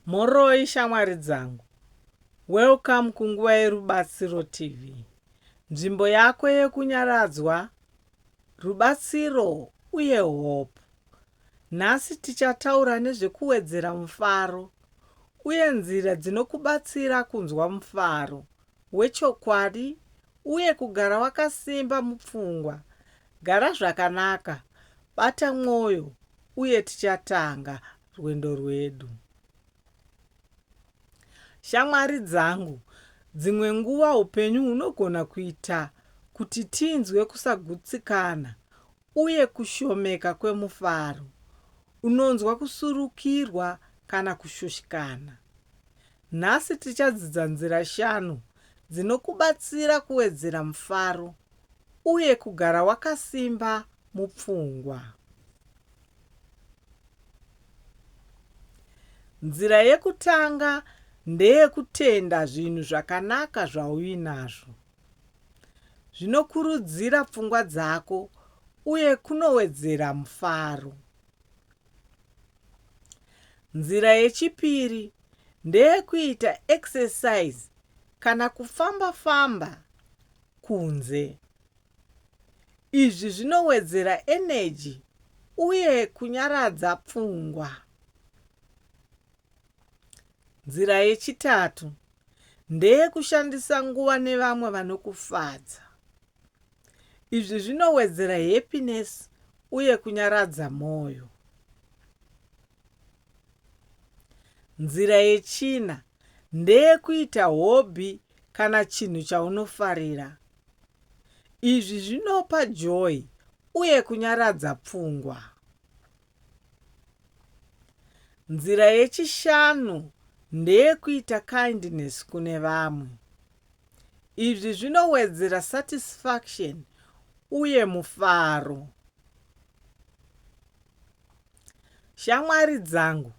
Mhoroi shamwari dzangu. Welcome kunguva yerubatsiro TV. Nzvimbo yako yekunyaradzwa, rubatsiro uye hope. Nhasi tichataura nezvekuwedzera mufaro uye nzira dzinokubatsira kunzwa mufaro. wechokwadi uye kugara wakasimba mupfungwa. Gara zvakanaka, bata mwoyo, uye tichatanga rwendo rwedu. Shamwari dzangu, dzimwe nguva upenyu hunogona kuita kuti tinzwe kusagutsikana Uye kushomeka kwemufaro, unonzwa kusurukirwa kana kushushikana. Nhasi tichadzidza nzira shanu dzinokubatsira kuwedzera mufaro uye kugara wakasimba mupfungwa. Nzira yekutanga ndeyekutenda zvinhu zvakanaka zvauinazvo. zvinokurudzira pfungwa dzako uye kunowedzera mufaro. Nzira yechipiri ndeyekuita exercise kana kufamba-famba kunze. Izvi zvinowedzera eneji uye kunyaradza pfungwa. Nzira yechitatu ndeyekushandisa nguva nevamwe vanokufadza. Izvi zvinowedzera happiness uye kunyaradza mwoyo. Nzira yechina ndeyekuita hobby kana chinhu chaunofarira. Izvi zvinopa joy uye kunyaradza pfungwa. Nzira yechishanu ndeyekuita kindness kune vamwe. Izvi zvinowedzera satisfaction uye mufaro. Shamwari dzangu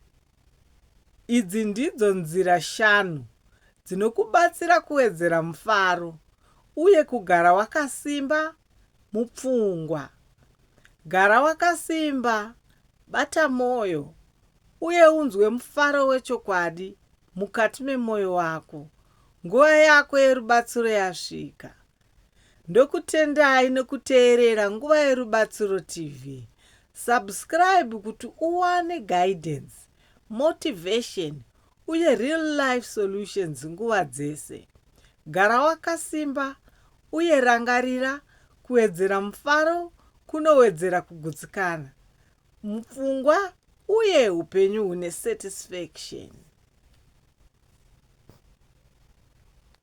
Idzi ndidzo nzira shanu dzinokubatsira kuwedzera mufaro uye kugara wakasimba mupfungwa. Gara wakasimba, bata mwoyo, uye unzwe mufaro wechokwadi mukati memwoyo wako. Nguva yako yerubatsiro yasvika. Ndokutendai nekuteerera Nguva Yerubatsiro TV. Subscribe kuti uwane guidance, motivation uye real life solutions nguva dzese. Gara wakasimba uye rangarira kuwedzera mufaro kunowedzera kugutsikana mupfungwa uye upenyu hune satisfaction.